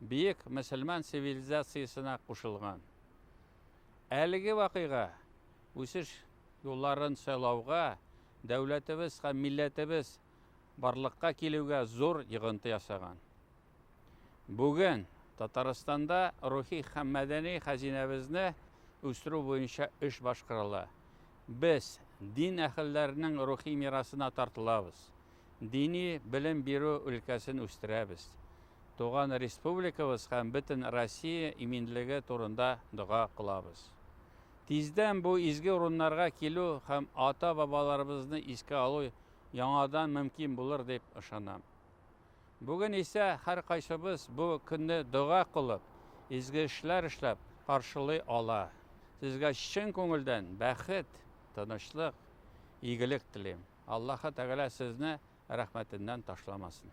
Биек мөселман цивилизациясенә кушылган. Әлеге вакыйга үсеш юлларын сайлауга, дәүләтебез һәм милләтебез барлыкка килүгә зур йогынты ясаган. Бүген Татарстанда рухи һәм мәдәни хәзинәбезне үстерү буенча эш башкарыла. Без дин әһелләренең рухи мирасына тартылабыз. Дини белем бирү өлкәсен үстерәбез. Туган республикабыз һәм бөтен Россия иминлеге турында дога кылабыз. Тиздән бу изге урыннарга килү һәм ата-бабаларыбызны искә алу яңадан мөмкин булыр дип ышанам. Бүген исә һәркайсыбыз бу көнне дога кылып, изге эшләр эшләп каршылый ала. Сезгә чын күңелдән бәхет, тынычлык, игелек телим. Аллаһы Тәгалә сезне рәхмәтеннән ташламасын.